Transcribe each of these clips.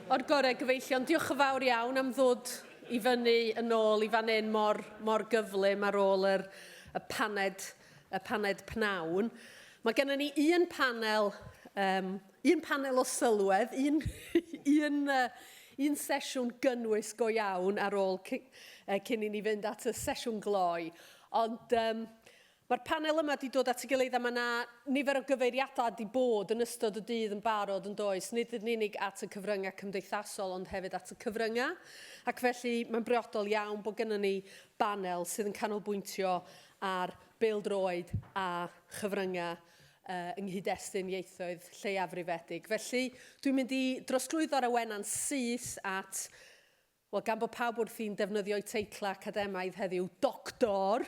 O'r gorau gyfeillion, diolch yn fawr iawn am ddod i fyny yn ôl i fan hyn mor, mor gyflym ar ôl yr, y paned, y paned pnawn. Mae gennym ni un panel, um, un panel o sylwedd, un, un, uh, un sesiwn gynnwys go iawn ar ôl cyn, uh, cyn i ni fynd at y sesiwn gloi. Ond um, Mae'r panel yma wedi dod at ei gilydd a mae yna nifer o gyfeiriadau wedi bod yn ystod y dydd yn barod yn does, nid yn unig at y cyfryngau cymdeithasol ond hefyd at y cyfryngau, ac felly mae'n briodol iawn bod gennym ni banel sydd yn canolbwyntio ar bêl-droed a chyfryngau uh, yng nghyd-destun ieithoedd lleiafrifedig. Felly dwi'n mynd i drosglwyddo'r awenau'n syth at Wel, gan bod pawb wrthi'n defnyddio'u teitlau academaidd heddiw, Doctor!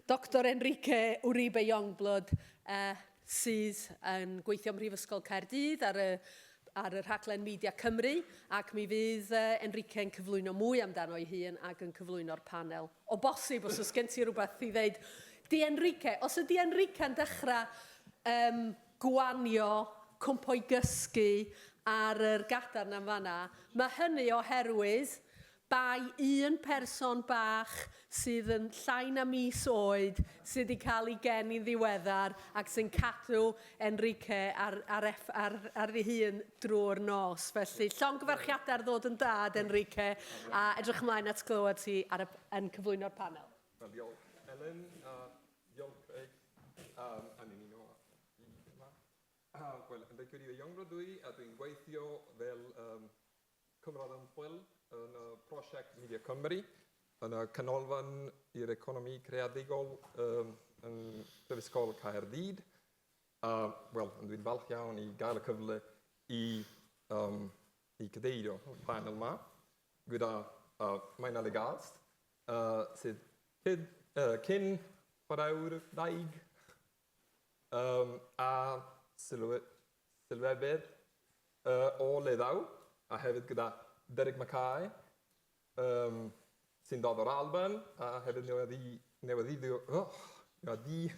Doctor Enrique Uribe Youngblood, eh, sydd yn gweithio ym Mhrifysgol Caerdydd ar y, ar y rhaglen Media Cymru, ac mi fydd uh, Enrique yn cyflwyno mwy amdano ei hun ac yn cyflwyno'r panel. O bosib, os oes gen ti rhywbeth i ddeud. Di Enrique, os ydi Enrique yn dechrau um, gwanio, cwmpo i gysgu ar yr gadarn am fan'na. Mae hynny oherwydd bai un person bach sydd yn llai na mis oed sydd 'di cael ei geni'n ddiweddar ac sy'n cadw Enrique ar, ar, eff, ar, ar ei hun drwy'r nos. Felly, llongyfarchiadau ar ddod yn dad, Enrique, a edrych ymlaen at glywed ti ar y, yn cyflwyno'r panel. Diolch, Elen. Diolch am ymuno â ni yma. Wel, yn deg Cyril Iongro dw i, a dwi'n gweithio fel um, cymryd ymchwil yn y prosiect Media Cymru, yn y Canolfan i'r Economi Creadigol um, yn Prifysgol Caerdydd. A, wel, dwi'n falch iawn i gael y cyfle i, um, i cadeirio y panel yma gyda uh, Maina Legast, A sydd cyn chwaraewr ddaear a sylwebydd o Leddau, a hefyd gyda Derek Mackay sy'n dod o'r Alban a hefyd newyddiadurwr o Gaerdydd.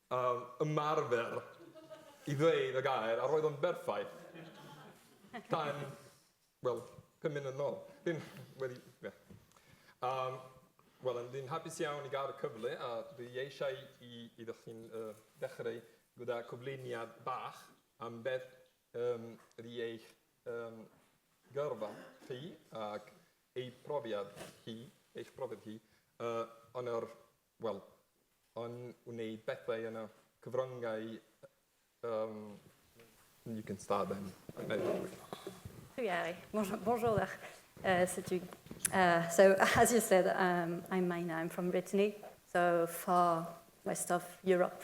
a ymarfer i ddweud y gair a roedd o'n berffaith tan, wel, pum munud yn ôl. Dwi'n wedi, ie. Yym, wel, ond dwi'n hapus iawn i gael y cyfle a dwi eisiau i iddo chi'n yy dechreu gyda cyflwyniad bach am beth yym ydy eich yym gyrfa chi ac eu profiad chi, eich profiad chi yy yn yr Wel, yn wneud bethau yn y cyfryngau um, you can start then. Ie, mor roddach. Uh, so, dwi, uh, so as you said, um, I'm Maina, I'm from Brittany, so far west of Europe.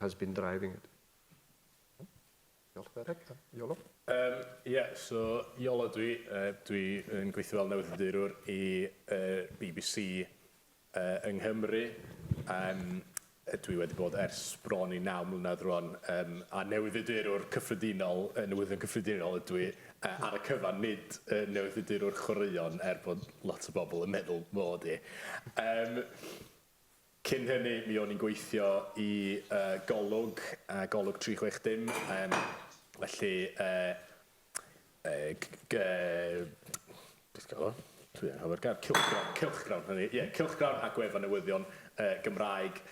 has been driving it. Diolch, Derek. Iolo? Um, yeah, so Iolo dwi, uh, dwi yn gweithio fel newyddiadurwr i uh, BBC uh, yng Nghymru. Um, dwi wedi bod ers bron i naw mlynedd rwan um, a newyddiadurwr cyffredinol, uh, newyddion cyffredinol ydw i uh, ar y cyfan, nid uh, newyddiadurwr chwaraeon er bod lot o bobl yn meddwl mod i. Um, Cyn hynny, mi o'n i'n gweithio i Golwg, Golwg 360, felly cylchgrawn a gwefan newyddion Gymraeg,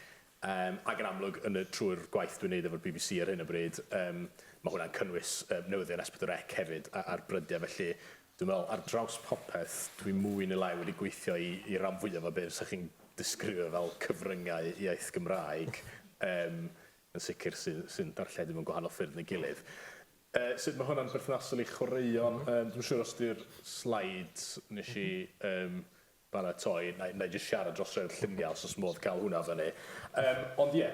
ac yn amlwg trwy'r gwaith dwi'n 'neud efo'r bbc ar hyn o bryd, ma' hwnna'n cynnwys newyddion S4C hefyd a'r brydiau, felly Dwi'n meddwl, ar draws popeth, dwi mwy neu lai wedi gweithio i i ran fwyaf o be' fysa chi'n disgrifio fel cyfryngau iaith Gymraeg, yym, yn sicr, sy sy'n darlledu mewn gwahanol ffyrdd na'i gilydd. Yy, sut ma' hwnna'n berthnasol i chwaraeon? Yym, dwi'm yn siŵr os 'di'r slides nes i, yym, baratoi, na i na i jyst siarad dros rhei'r lluniau os oes modd cael hwnna fyny. Yym, ond ie,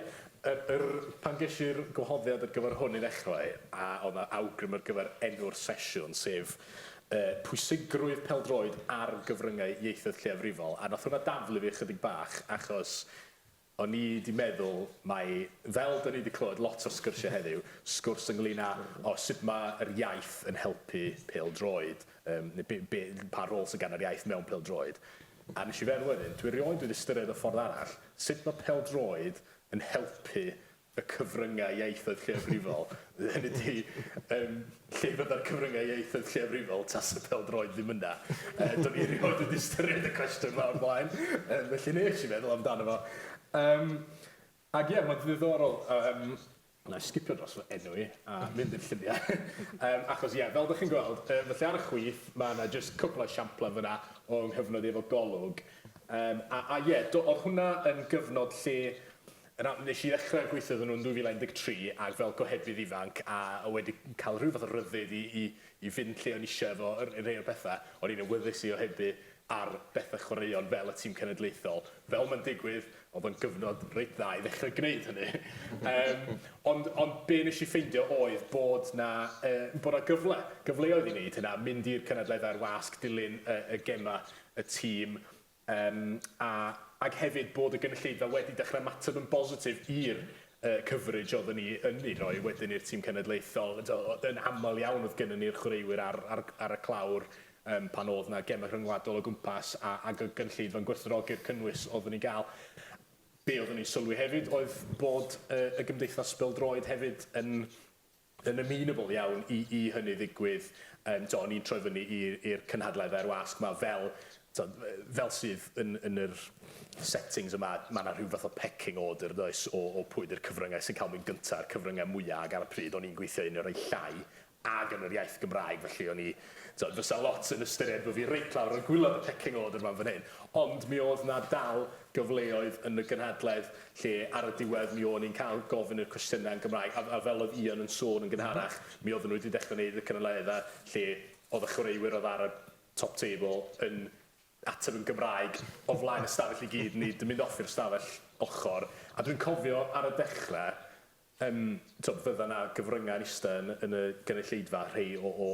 yr, yr, pan ges i'r gwahoddiad ar gyfer hwn i ddechrau, a oedd 'na awgrym ar gyfer enw'r sesiwn, sef yy pwysigrwydd pêl-droed ar gyfryngau ieithoedd lleiafrifol, a wnaeth hwnna daflu fi ychydig bach, achos O'n i 'di meddwl mai, fel 'da ni 'di clywed lot o'r sgyrsiau heddiw, sgwrs ynglŷn â, o, sut mae yr iaith yn helpu pêl-droed, yym, neu be, be, pa rôl sydd gan yr iaith mewn pêl-droed. A wnes i feddwl wedyn, dwi erioed wedi ystyried y ffordd arall, sut mae pêl-droed yn helpu y cyfryngau ieithoedd lleiafrifol, hynny ydi, yym, lle fydda'r cyfryngau ieithoedd lleiafrifol tasa pêl-droed ddim yna? Yy, do'n i erioed wedi ystyried y cwestiwn 'ma o'r blaen, yym, felly wnes i feddwl amdano fo. Yym, ac ie, mae'n ddiddorol, yym, wna i sgipio dros fy enw i a mynd i'r lluniau, yym, achos ie, fel dych chi'n gweld, yy, felly ar y chwith, mae yna jyst cwpl o esiamplau fanna o 'y nghyfnod i efo Golwg. Yym, a, a ie, do, oedd hwnna yn gyfnod lle Yna, nes i ddechrau gweithio iddyn nhw yn 2013 ac fel gohebydd ifanc a oedd wedi cael rhyw fath o ryddid i i i fynd lle o'n i eisiau efo r- rhai o'r pethau, o'n i'n awyddus i ohebu ar bethau chwaraeon fel y tîm cenedlaethol. Fel mae'n digwydd, oedd o'n gyfnod reit dda i ddechrau gwneud hynny. Yym, ond ond be nes i ffeindio oedd bod 'na yy bod 'na gyfle, gyfleoedd i wneud hynna, mynd i'r cynadleddau i'r wasg, dilyn y y gemau y tîm, Yym, a, ac hefyd bod y gynulleidfa wedi dechrau ymateb yn bositif i'r yy coverage oedden ni yn ei roi wedyn i'r tîm cenedlaethol. T'o' o- yn aml iawn oedd gynnon ni'r chwaraewyr ar ar ar y clawr yym pan o'dd 'na gemau rhyngwladol o gwmpas a ag y gynulleidfa'n gwerthfawrogi'r cynnwys oedden ni'n ga'l. Be' oedden ni'n sylwi hefyd oedd bod yy y Gymdeithas Bêl-droed hefyd yn Yn amenable iawn i i hynny ddigwydd. Yym t'o' o'n i'n troi fyny i i'r cynhadledd a'r wasg 'ma fel t'o' yy fel sydd yn yn yr settings yma ma' 'na rhyw fath o pecking order yndoes o o pwy 'di'r cyfrynge sy'n ca'l mynd gynta a'r cyfrynge mwya ag ar y pryd o'n i'n gweithio un o rei llai ag yn yr iaith Gymraeg felly o'n i t'od fysa lot yn ystyried bo' fi reit lawr ar gwilod y pecking order 'ma yn fan hyn ond mi o'dd 'na dal gyfleoedd yn y gynhadledd lle ar y diwedd mi o'n i'n cael gofyn y cwestiynau yn Gymraeg a a fel oedd Ian yn sôn yn gynharach mi oedden nhw wedi dechrau wneud y cynulleddau lle oedd y chwaraewyr oedd ar y top table yn ateb yn Gymraeg o flaen y stafell i gyd nid yn mynd off i'r stafell ochr a dwi'n cofio ar y dechrau Yym, t'wod, fydda 'na gyfryngau yn ista yn yn y gynulleidfa, rhei o o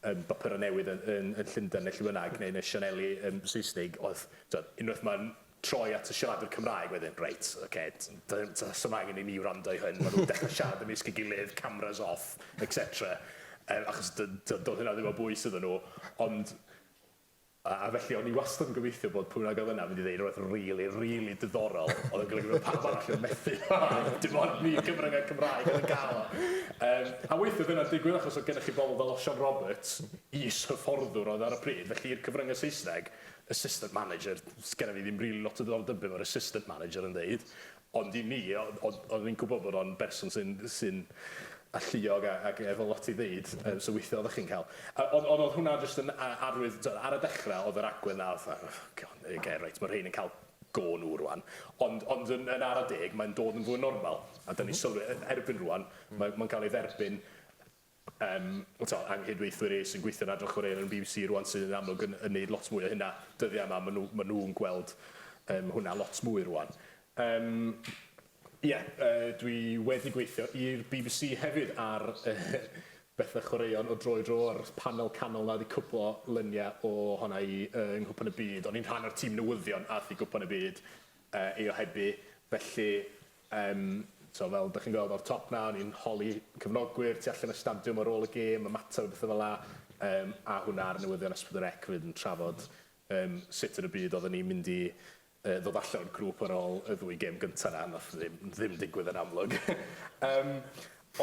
yym bapura' newydd yn yn yn Llundain ne' lle bynnag, neu yn y sianeli yym Saesnig, o'dd, t'wod, unwaith ma'n troi at y siaradwr Cymraeg wedyn, reit, ocê, t- do'dd ddim t- sdim angen i ni wrando i hwn, ma' nw'n dechre siarad ymysg 'i gilydd, cameras off, et cetera. Yym, achos do- do- do'dd hynna ddim o bwys iddyn nw, ond A felly o'n i wastad yn gobeithio bod pwy bynnag oedd yna yn mynd i ddeud rhywbeth rili, rili diddorol oedd yn golygu bod pawb arall yn methu. Dim ond ni cyfryngau Cymraeg oedd yn cael o. Yym, a weithiau dyna'n digwydd achos oedd gennych chi bobl fel Osian Roberts, is-hyfforddwr oedd ar y pryd, felly i'r cyfryngau Saesneg, assistant manager, sgenna fi ddim rili lot o ddiddordeb be' mae'r assistant manager yn ddeud, Ond i mi, oeddwn i'n gwybod bod o'n berson sy'n sy'n alluog a ac efo lot i ddeud, yym so weithia' oeddach chi'n cael yy ond ond odd hwnna jyst yn a- arwydd t'od ar y dechra o'dd yr agwedd 'na fatha oh God ok reit ma' rhein yn cael go nhw rŵan ond ond yn yn ara deg mae'n dod yn fwy normal a 'dan ni'n sylwi yy erbyn rŵan mae mae'n ca'l ei dderbyn Yym, t'o', anghydweithwyr e sy'n gweithio'n Adran Chwaraeon yn y bbc rŵan sydd yn amlwg yn yn neud lot mwy o hynna dyddia' 'ma, ma' nw ma' nw'n gweld yym hwnna lot mwy rŵan. Yym, ie, yy dwi wedi gweithio i'r bbc hefyd ar bethe chwaraeon o dro i dro, a'r panel canol 'na wedi cwplo lunie o honna i yy yng Nghwpan y Byd. O'n i'n rhan o'r tîm newyddion ath i Gwpan y Byd yy ei ohebu, felly Yym, t'o', fel 'dach chi'n gweld o'r top 'na, o'n i'n holi cefnogwyr tu allan y stadiwm ar ôl y gêm, ymateb a bethe fel 'a, yym, a hwnna ar newyddion S pedwar Ec 'fyd yn trafod yym sut yn y byd odden ni'n mynd i yy ddod allan o'r grŵp ar ôl y ddwy gêm gynta 'na, nath ddim ddim digwydd yn amlwg. Yym,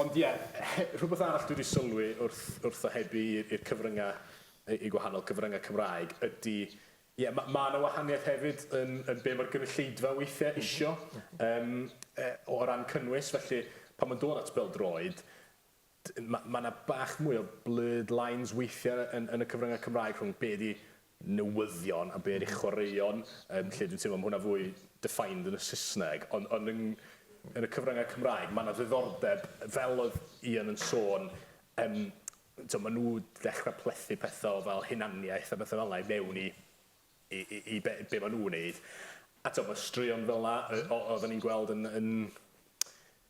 ond ie, he- rhwbeth arall dwi 'di sylwi wrth wrth ohebu i'r i'r cyfrynga' yy i gwahanol cyfrynga' Cymraeg ydi Ie, ma- ma' 'na wahaniaeth hefyd yn yn be' ma'r gynulleidfa weithie isio yym yy o ran cynnwys, felly pan ma'n dod at bêl-droed d- ma' ma' 'na bach mwy o blurred lines weithie yn yn y cyfrynge Cymraeg rhwng be' 'di newyddion a be' ydi chwaraeon yym lle dwi'n teimlo ma' hwnna fwy defined yn y Sysneg on' on' yng yn y cyfrynge Cymraeg ma' 'na ddiddordeb fel oedd Ian yn sôn yym T'o' ma' nw 'di dechra plethu pethe o fel hunaniaeth a bethe fela i mewn i i i i be' be' ma' nw'n neud. A t'o' ma' straeon fela yy o- oddan ni'n gweld yn yn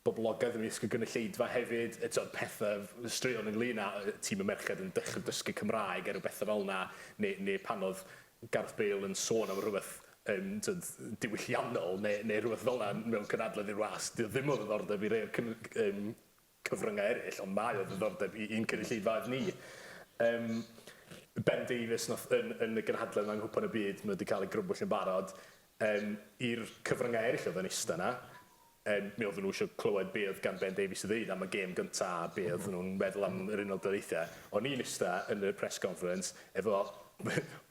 boblogedd ymysg y gynulleidfa hefyd, yy t'od pethe f- straeon ynglŷn â yy tîm y merched yn dechre dysgu Cymraeg er o bethe fel 'na ne' ne' pan o'dd Gareth Bale yn sôn am rwbeth yym t'od diwylliannol ne' ne' rwbeth fel 'na mewn cynadledd i'r wasg. 'Di o ddim o ddiddordeb i rei o'r cyn- yym cyfryngau eraill, ond mae o ddiddordeb i i'n cynulleidfaoedd ni. Yym, Ben Davies, nath, yn, yn y gynhadledd yma yng Nghwpan y Byd, mae o wedi cael ei grybwyll yn barod, yym, i'r cyfryngau eraill oedd yn ista yna, yym, mi oedden nhw eisiau clywed be oedd gan Ben Davies i ddeud am y gêm gyntaf a be oedden nhw'n meddwl am yr Unol Daleithiau. O'n i'n ista yn y press conference, Efo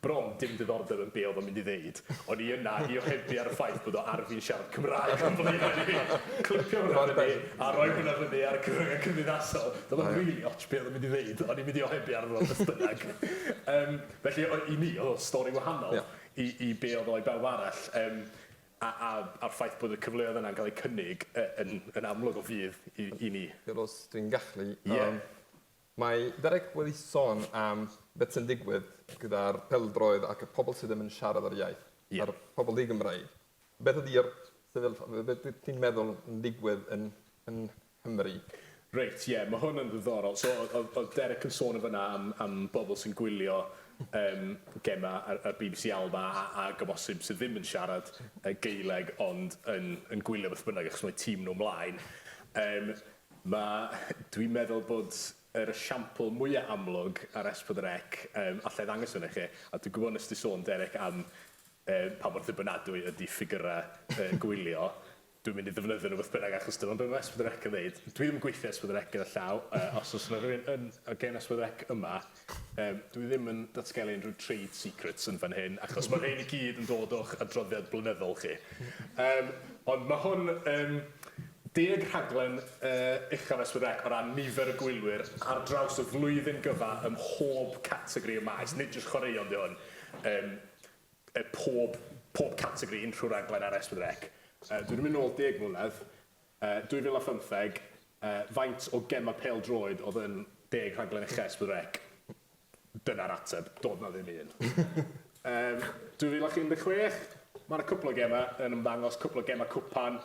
bron dim diddordeb yn be oedd o'n mynd i ddeud, o'n i yna i ohebu ar y ffaith bod o ar fin siarad Cymraeg o'n blaenau i! Clipio hwnna fyny a rhoi hwnna fyny ar y cyfryngau cymdeithasol, doedd o'm rili otsh be oedd o'n mynd i ddeud, o'n i'n mynd i ohebu arno fo beth bynnag. Yym, felly o- i mi oedd o'n stori wahanol i i be oedd o i bawb arall, yym, a a a'r ffaith bod y cyfleoedd yna yn cael eu cynnig yy yn yn amlwg o fudd i i ni. Fel os dwi'n gallu, yym... Ie. Mae Derek wedi sôn am beth sy'n digwydd gyda'r peldroed ac y pobl sydd ddim yn siarad yr iaith, a'r pobl di-Gymraeg. Beth ydi'r sefyllfa, beth wyt ti'n meddwl yn digwydd yn Nghymru? Reit, ie, mae hwn yn ddiddorol. So, oedd Derek yn sôn yn fan'na am bobl sy'n gwylio gemau ar bbc Alba ac o bosib sydd ddim yn siarad Gaeleg ond yn gwylio beth bynnag achos mae tîm nhw 'mlaen. Mae, dwi'n meddwl bod yr esiampl mwya amlwg ar Es Pedwar Ec, yym, alla i ddangos hwn i chi, a dwi'n gwybod nes di sôn Derek am yy pa mor ddibynadwy ydi ffigyra yy gwylio, dwi'n mynd i ddefnyddio nhw beth bynnag achos dyma be mae Es Pedwar Ec yn ddeud. Dwi ddim yn gweithio Es Pedwar Ec gyda llaw, yy os oes yna rhywun yn o gen Es Pedwar Ec yma, Yym, dwi ddim yn datgelu unrhyw trade secrets yn fan hyn, achos ma' rhein i gyd yn dod o'ch adroddiad blynyddol chi. Yym, ond ma' hwn yn deg rhaglen yy uchaf S4C o ran nifer y gwylwyr ar draws y flwyddyn gyfa ym mhob categori y maes, nid jyst chwaraeon 'di hwn, yym yy pob pob categori unrhyw raglen ar S4C. Yy, dwi 'di mynd nôl deg mlynedd, 2015, faint o gemau pêl-droed oedd yn deg rhaglen uchel Split Rec? Dyna'r ateb, doedd 'na ddim un. 2016, mae 'na cwpl o gemau yn ymddangos, cwpl o gemau cwpan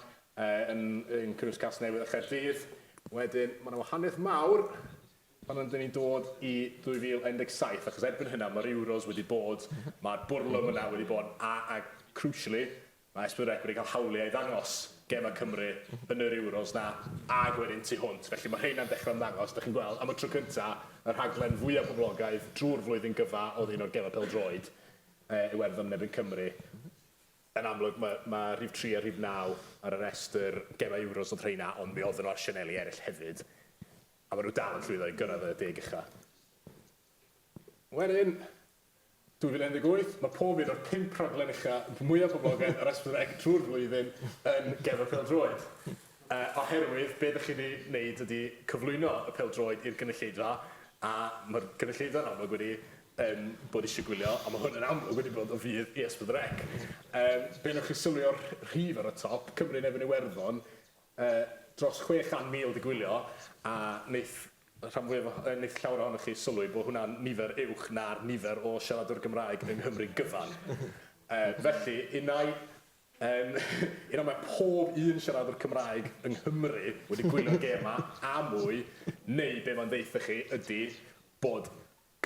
yn cynnwys Casnewydd a Chaerdydd. Wedyn, mae 'na wahaniaeth mawr pan rydyn ni'n dod i 2017, achos erbyn hynna, mae'r Euros wedi bod, mae'r bwrlwm yna wedi bod, a crucially, Mae Esbyrec wedi cael hawliau i ddangos gemau Cymru yn yr Euros 'na ag wedyn tu hwnt, felly mae rheina'n dechrau ymddangos. Dach chi'n gweld, am y tro cynta', y rhaglen fwya' poblogaidd drwy'r flwyddyn gyfa oedd un o'r gemau pêl-droed, yy Iwerddon yn erbyn Cymru. Yn amlwg ma' ma' rhif tri a rhif naw ar y rhestr gemau Euros oedd rheina, ond mi oedden nhw ar sianeli eraill hefyd, a ma' nhw dal yn llwyddo i gyrraedd y deg ucha'. Wedyn, 2018, mae pob un o'r pump rhaglen ucha mwyaf poblogaidd ar S4C drwy'r flwyddyn yn Gerdded Pêl-droed. Oherwydd, be' 'dych chi 'di neud ydi cyflwyno y pêl-droed i'r gynulleidfa, a ma'r gynulleidfa yn amlwg wedi yym bod isie gwylio, a ma' hwn yn amlwg wedi bod o fudd i S4C. Yym, be' newch chi sylwi o'r rhif ar y top, Cymru yn erbyn Iwerddon, yy dros 600,000 'di gwylio, a neith y rhan fwyaf o, wneith llawer ohonoch chi sylwi bod hwnna'n nifer uwch na'r nifer o siaradwyr Gymraeg yng Nghymru gyfan. Felly, un ai, un ai mae pob un siaradwr Cymraeg yng Nghymru wedi gwylio'r gêm 'ma a mwy, neu be mae'n ddeutha chi ydy bod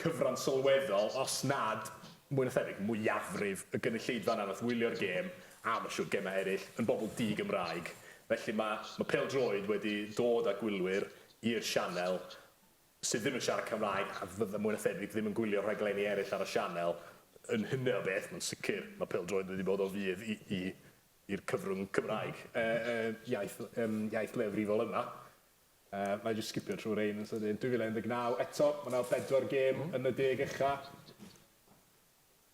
cyfran sylweddol, os nad mwy na thebyg, mwyafrif y gynulleidfa yna wnaeth wylio'r gêm, a mae'n siŵr gemau eraill, yn bobl di-Gymraeg. Felly mae mae pêl-droed wedi dod â gwylwyr i'r sianel sydd ddim yn siarad Cymraeg a fydda mwy na thebyg ddim yn gwylio rhaglenni eraill ar y sianel. Yn hynny o beth, mae'n sicr, mae pêl-droed wedi bod o fudd i i i'r cyfrwng Cymraeg, y y iaith yym iaith leiafrifol yma. Yy, na i jyst sgipio trwy rein yn sydyn. 2019, eto, mae yna bedwar gêm mm. yn y deg ucha.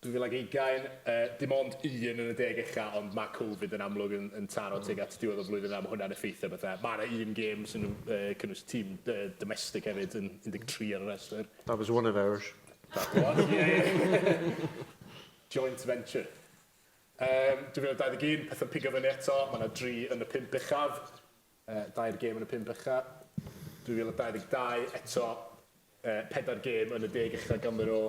2020, uh, dim ond un yn y deg ucha, ond mae Covid yn amlwg yn, yn taro mm. teg at diwedd o flwyddyn am hwnna'n effeithio bethau. Mae yna un gêm sy'n uh, cynnwys tîm uh, domestig hefyd yn 13 ar y rhestr. That was one of ours. That was, yeah. Joint venture. Um, 2021, pethau'n pigo fyny eto, mae yna dri yn y pimp uchaf. Dair gêm yn y pump ucha'. 2022, eto, pedair gêm yn y deg ucha' ganddo ro,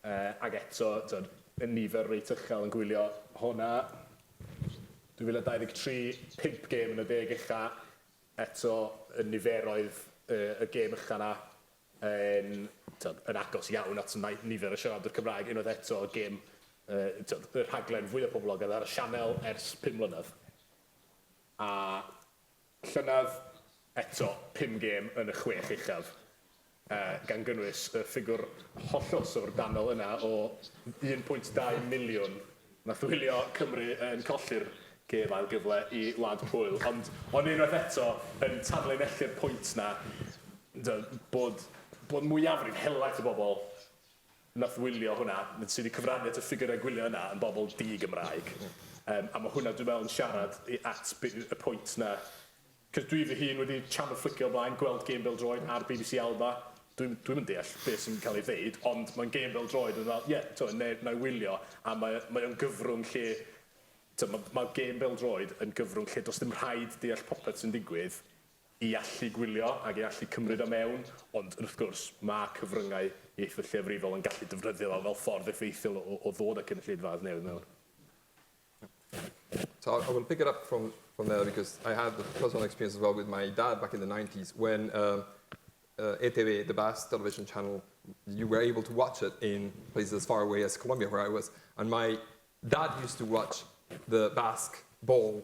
ac eto, t'od, y nifer reit uchel yn gwylio hona. 2023, pump gêm yn y deg ucha', eto, y niferoedd y gêm ucha' 'na yn, t'od, yn agos iawn at nifer y siaradwyr Cymraeg, unwaith eto, gêm, t'od, y rhaglen fwya' poblogedd ar y sianel ers pum mlynedd. A llynedd, eto, pum gêm yn y chwech uchaf, gan gynnwys y ffigwr hollol syfrdanol yna o un pwynt dau miliwn wnaeth wylio Cymru yn colli'r gêm ail gyfle i Wlad Pwyl. Ond, ond unwaith eto, yn tanlinellu'r pwynt 'na, bod bod mwyafrif helaeth y bobl nath wylio hwnna, sy 'di cyfrannu at y ffigyrau gwylio yna, yn bobl di-Gymraeg. Yym, a ma' hwnna, dwi'n meddwl, yn siarad i- at be', y pwynt 'na. 'C'os dwi fy hun wedi chamoflicio o blaen, gweld gêm bêl-droed ar bbc Alba, dwi'm, dwi'm yn deall be' sy'n cael ei ddeud, ond mae'n gêm bêl-droed, o'n i fel, ie, t'mo', ne- 'na i wylio, a mae, mae o'n gyfrwng lle, t'mo', ma', ma' gêm bêl-droed yn gyfrwng lle does dim rhaid deall popeth sy'n digwydd, ei allu gwylio ac ei allu cymryd o mewn, ond wrth gwrs, mae cyfryngau ieithoedd lleafrifol yn gallu defnyddio fo fel ffordd effeithiol o o ddod â cynulleidfaoedd newydd mewn. So I will pick it up from, from there because I had the personal experience as well with my dad back in the 90s when um, uh, ETV, the Basque television channel, you were able to watch it in places as far away as Colombia, where I was. And my dad used to watch the Basque ball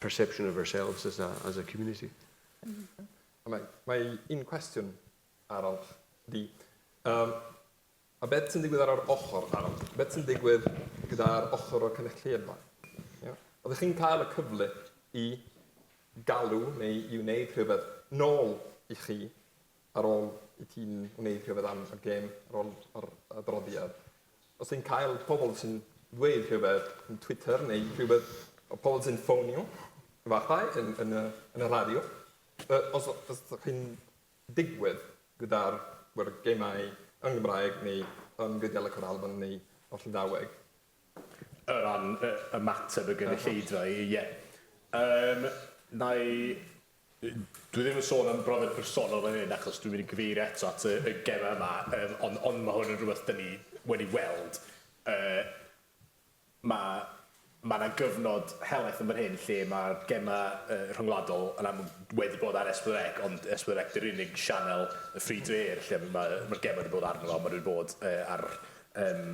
perception of ourselves as a, as a community. Mae, mae un cwestiwn arall di. Um, a beth sy'n digwydd ar yr ochr arall? Beth sy'n digwydd gyda'r ochr o'r cynulleidfa? Yeah. Oeddech chi'n cael y cyfle i galw neu i wneud rhywbeth nôl i chi ar ôl i ti'n wneud rhywbeth am y gêm, ar ôl yr adroddiad, os ti'n cael pobl sy'n dweud rhywbeth yn Twitter neu rhywbeth, o pobl sy'n ffonio, efallai, yn, yn, y, yn y radio, os, os ydych chi'n digwydd gyda'r gemau yng Nghymraeg neu yn Gwyddeleg yr Alban neu o'r Llydaweg, O ran y ymateb y gynulleidfa, ie. Yym, na i... Dwi ddim yn sôn am brofiad personol fan hyn, achos dwi'n mynd i gyfeirio eto at y y gemau yma, yym, ond ond ma' hwn yn rhywbeth 'dan ni wedi weld. Yy, ma' ma' 'na gyfnod helaeth yn fan hyn lle ma'r gemau yy rhyngwladol yn amlwg wedi bod ar S4C, ond S4C 'di'r unig sianel y free-to-air lle ma' ma'r gemau wedi bod arno fo, ma' nw wedi bod yy ar yym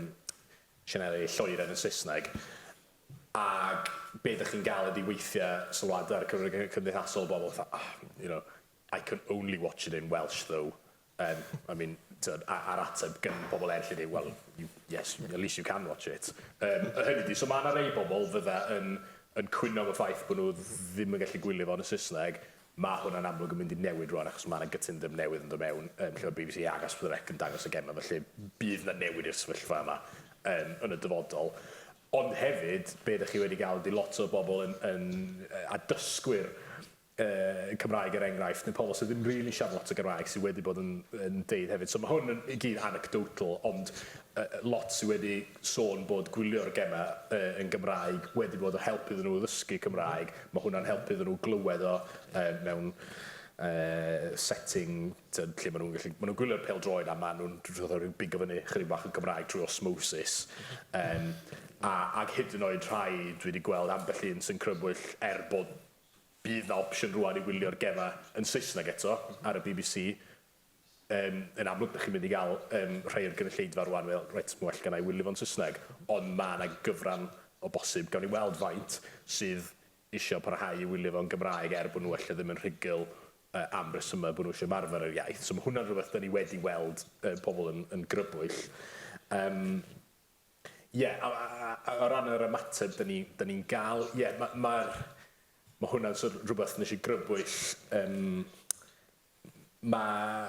sianeli lloeren yn Saesneg, ac be dych chi'n gael ydy weithiau sylwadau ar y cyfryngau cymdeithasol o bobl fatha, oh, you know, I can only watch it in Welsh though. Um, I mean, tyd, a'r ateb gan pobl eraill ydy, well, you, yes, at least you can watch it. Um, y hynny di, so mae yna rei bobl fydda yn, yn cwyno am y ffaith bod nhw ddim yn gallu gwylio fo yn y Saesneg, Mae hwnna'n amlwg yn mynd i newid rwan achos mae 'na gytundeb newydd yn dod mewn yym lle mae bbc ac Asfothr Eck yn dangos y gemau felly bydd 'na newid i'r sefyllfa yma yym yn y dyfodol. Ond hefyd be' 'dach chi wedi ga'l ydi lot o bobl yn yn yy a dysgwyr yy Cymraeg er enghraifft neu pobl sy ddim rili'n siarad lot o Gymraeg sy wedi bod yn yn deud hefyd so ma' hwn yn i gyd anecdotal ond yy lot sy wedi sôn bod gwylio'r gemau yy yn Gymraeg wedi bod o help iddyn nhw ddysgu Cymraeg Ma' hwnna'n helpu iddyn nhw glywed o yy mewn yy setting t'od lle ma' nhw'n gallu ma' nhw'n gwylio'r pêl-droed a ma' nhw'n dwi fatha ryw bigo fyny chydig bach o Gymraeg trwy osmosis yym a ag hyd yn oed rhai dwi 'di gweld ambell un sy'n crybwyll er bod bydd 'na opsiwn rŵan i wylio'r gema yn Saesneg eto ar y bbc Yym, yn amlwg, 'dach chi'n mynd i ga'l, yym, rhai o'r gynulleidfa rŵan yn meddwl, 'Reit, ma' well genna i wylio fo'n Saesneg', ond ma' 'na gyfran o bosib, gawn ni weld faint, sydd isio parhau i wylio fo'n Gymraeg er bo' nw ella ddim yn rhugl yy am resyma' bo' nw isio ymarfer yr iaith. So ma' hwnna'n rwbeth 'dan ni wedi weld yy pobol yn yn grybwyll. Yym, ie, a a a a o ran yr ymateb 'dan ni 'dan ni'n ga'l, ie, ma' ma'r ma' hwnna'n sor' o' rwbeth nesh i grybwyll, yym, Mae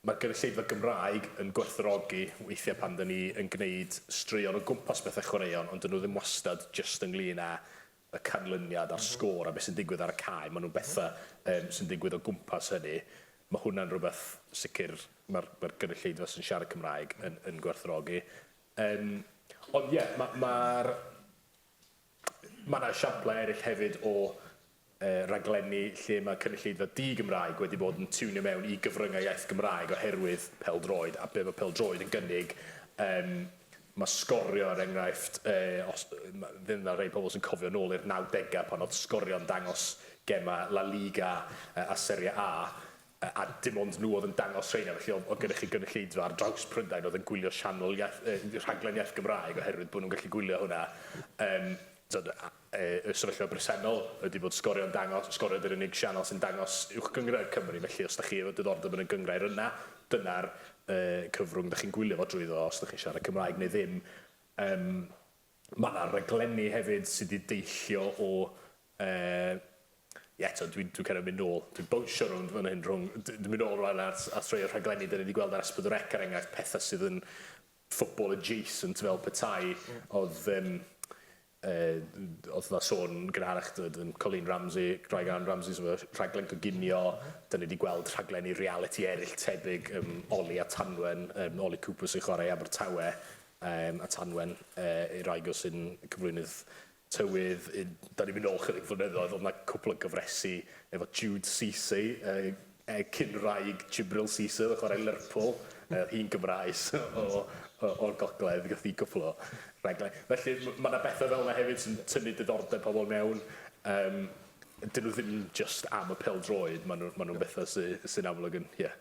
mae'r gynulleidfa Gymraeg yn gwerthfawrogi weithiau pan dan ni yn gwneud straeon o gwmpas pethau chwaraeon ond dyn nhw ddim wastad jyst ynglyn â y canlyniad a'r sgôr a beth sy'n digwydd ar y cae, maen nhw'n bethau yym sy'n digwydd o gwmpas hynny. Mae hwnna'n rhywbeth sicr mae'r mae'r gynulleidfa sy'n siarad Cymraeg yn yn gwerthfawrogi. Yym ond ie, ma' ma'r Mae yna esiamplau eraill hefyd o raglenni lle mae cynulleidfa di-Gymraeg wedi bod yn tiwnio mewn i gyfryngau iaith Gymraeg oherwydd pêl-droed a be mae pêl-droed yn gynnig. Yym mae sgorio er enghraifft, yy os ddim yna rhai pobl sy'n cofio nôl i'r nawdegau pan oedd sgorio'n dangos gemau La Liga a Serie A, a dim ond nhw oedd yn dangos rheina, felly oedd oedd gennych chi gynulleidfa ar draws Prydain oedd yn gwylio sianel iaith, uh, rhaglen iaith Gymraeg oherwydd bod nhw'n gallu gwylio hwnna. Um, tod, e, y sefyllfa bresennol ydy bod sgorio'n dangos, sgorio ydy'r unig sianel sy'n dangos uwch gyngrair Cymru, felly os da chi efo diddordeb yn y gyngrair yna, dyna'r uh, cyfrwng da chi'n gwylio fo drwyddo os da chi'n siarad Cymraeg neu ddim. Um, Mae 'na raglenni hefyd sy' 'di deillio o, yy, ie, t'od dwi'n dwi'n kind of mynd nôl, dwi'n bownsio rownd fan hyn rhwng, d- dwi'n mynd nôl rwan at at rhei o'r rhaglenni 'dan ni 'di gweld ar Esbyd yr Ec er enghraifft, petha sydd yn football adjacent fel petai o'dd yym yy o'dd 'na sôn yn gynharach t'od yym Colleen Ramsey, Craig Arm Ramsey sy efo rhaglen coginio, 'dan ni 'di gweld rhaglenni realiti eryll tebyg yym Oli a Tanwen, yym Oli Cooper sy'n chwarae i Abertawe, um, a Tanwen, uh, i'r rhaid o sy'n cyflwynydd tywydd, un, da ni'n mynd ôl chydig flynyddoedd, oedd yna cwpl o gyfresu efo Jude Cisse, uh, e, cyn-raig Jibril Cisse, oedd chwarae Lerpwl, uh, hi'n Gymraes o, o, o'r gogledd, gath i gwpl o rhaglen. Felly mae yna bethau fel yna hefyd sy'n tynnu diddordeb pobl mewn. Um, dyn nhw ddim just am y pel droed, maen nhw'n ma nhw bethau sy'n sy amlwg yn, ie. Yeah.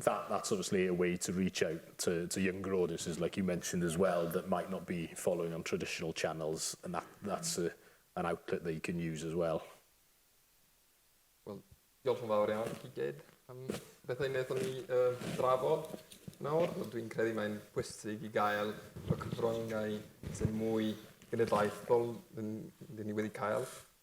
that that's obviously a way to reach out to, to younger audiences, like you mentioned as well, that might not be following on traditional channels, and that, that's a, an outlet they can use as well. Wel, diolch yn fawr iawn chi gyd am bethau wnaethon ni uh, drafod nawr. Dwi'n credu mae'n pwysig i gael y cyfryngau sy'n mwy genedlaethol dyn ni wedi cael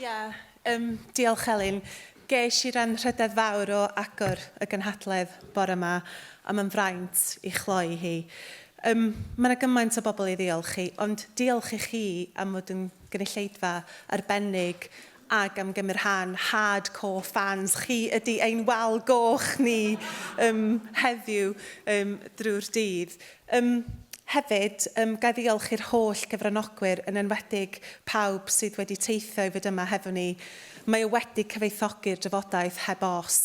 Ia, um, diolch Elin. Geis i ran rhydedd fawr o agor y gynhadledd bore yma, a mae'n fraint i chloi hi. Um, mae yna gymaint o bobl i ddiolch i, ond diolch i chi am fod yn gynulleidfa arbennig Ac am gymrhan hard core fans chi ydy ein wal goch ni ym heddiw ym drwy'r dydd. Ym hefyd, ym ga i ddiolch i'r holl gyfranogwyr, yn enwedig pawb sydd wedi teithio i fod yma hefo ni. Mae o wedi cyfoethogi'r drafodaeth heb os.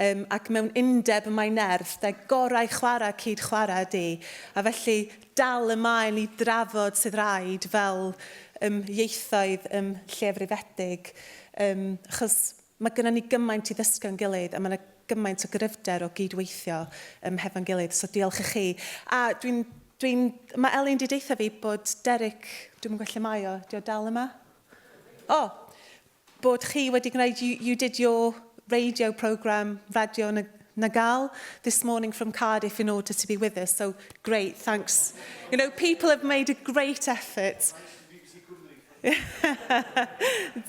Ym ac mewn undeb mae nerth, de, gorau chwarae cyd chwarae ydy. A felly, dal ymlaen i drafod sydd raid fel ym ieithoedd ym llefrifedig ym achos mae gynnon ni gymaint i ddysgu o'n gilydd a mae yna gymaint o gryfder o gyd-weithio ym hefo'n gilydd so diolch i chi a dwi'n dwi'n mae Elin di deutha fi bod Derek dwi'm yn gwybod lle mae o dio dal yma o bod chi wedi gwneud, you, you did your radio programme, radio na, na gal, this morning from Cardiff in order to be with us, so great, thanks. You know, people have made a great effort.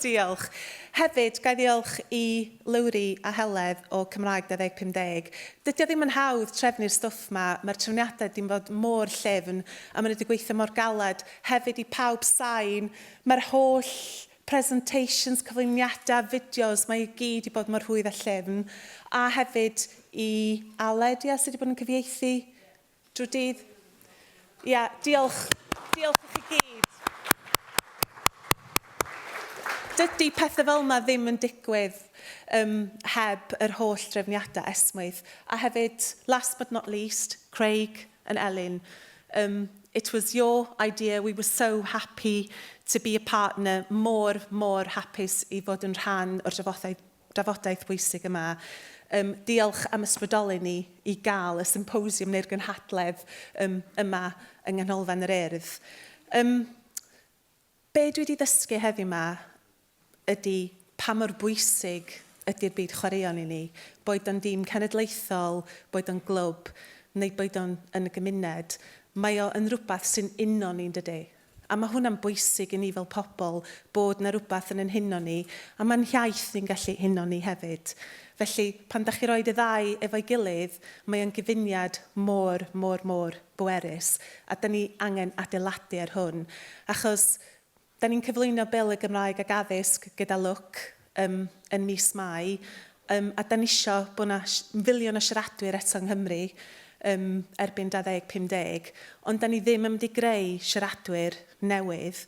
Diolch. Hefyd, gai ddiolch i Lowri a Heledd o Cymraeg 2050. Dydy o ddim yn hawdd trefnu'r stwff ma, mae'r trefniadau wedi bod mor llefn a maen nhw wedi gweithio mor galed. Hefyd i pawb sain, mae'r holl presentations, cyflwyniadau, fideos, mae i gyd i bod mor rhwydd a llyfn. A hefyd i Aled, ia, sydd wedi bod yn cyfieithu drwy dydd. Ia, diolch. Diolch i chi gyd. Dydy pethau fel yma ddim yn digwydd um, heb yr holl drefniadau esmwyth. A hefyd, last but not least, Craig, yn Elin, Ym, it was your idea, we were so happy to be a partner, mor, mor hapus i fod yn rhan o'r drafodaeth, drafodaeth bwysig yma. Ym, diolch am ysbrydoli ni i gael y symposiwm neu'r gynhadledd ym, yma yng Nghanolfan yr Urdd. Ym, Be dwi 'di ddysgu heddiw 'ma ydi pa mor bwysig ydi'r byd chwaraeon i ni, boed o'n dîm cenedlaethol, boed o'n glwb, neu boed o'n yn y gymuned. Mae o yn rwbath sy'n uno ni, yndydi? A ma' hwnna'n bwysig i ni fel pobl, bod 'na rwbath yn 'yn huno ni, a ma'n hiaith ni'n gallu huno ni hefyd. Felly, pan 'dach chi roi y ddau efo'i gilydd, mae o'n gyfuniad mor, mor, mor bwerus, a dan ni angen adeiladu ar hwn, achos dan ni'n cyflwyno Bil y Gymraeg ac Addysg gyda lwc ym yn mis Mai, ym a dan ni isio bod yna filiwn o siaradwyr eto yng Nghymru ym erbyn 2050, ond dan ni ddim yn mynd i greu siaradwyr newydd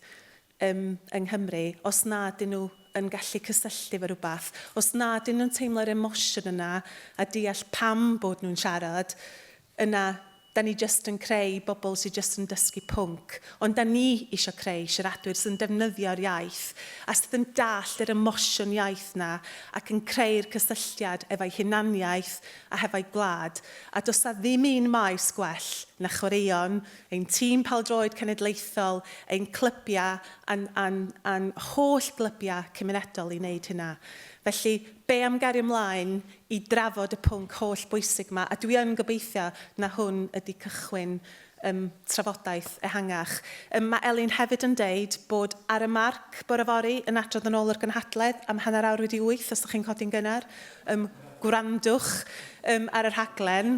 ym yng Nghymru, os na ydyn nhw yn gallu cysylltu efo rhywbeth, os na ydyn nhw'n teimlo'r emosiwn yna a deall pam bod nhw'n siarad, yna 'da ni jyst yn creu bobl sydd jyst yn dysgu pwnc. Ond 'da ni isio creu siaradwyr sydd yn defnyddio'r iaith a sydd yn dallt yr emosiwn iaith 'na ac yn creu'r cysylltiad efo'u hunaniaeth a hefo'u gwlad. A does 'na ddim un maes gwell na chwaraeon ein tîm pêl-droed cenedlaethol, ein clybiau a'n, a'n, a'n holl glybiau cymunedol i wneud hynna. Felly, be am gario mlaen i drafod y pwnc holl bwysig yma, a dwi yn gobeithio na hwn ydy cychwyn ym trafodaeth ehangach. Ym, mae Elin hefyd yn deud bod Ar y Marc bore fory yn adrodd yn ôl yr gynhadledd am hanner awr wedi wyth, os dych chi'n codi'n gynnar, ym, gwrandwch ym, ar y rhaglen.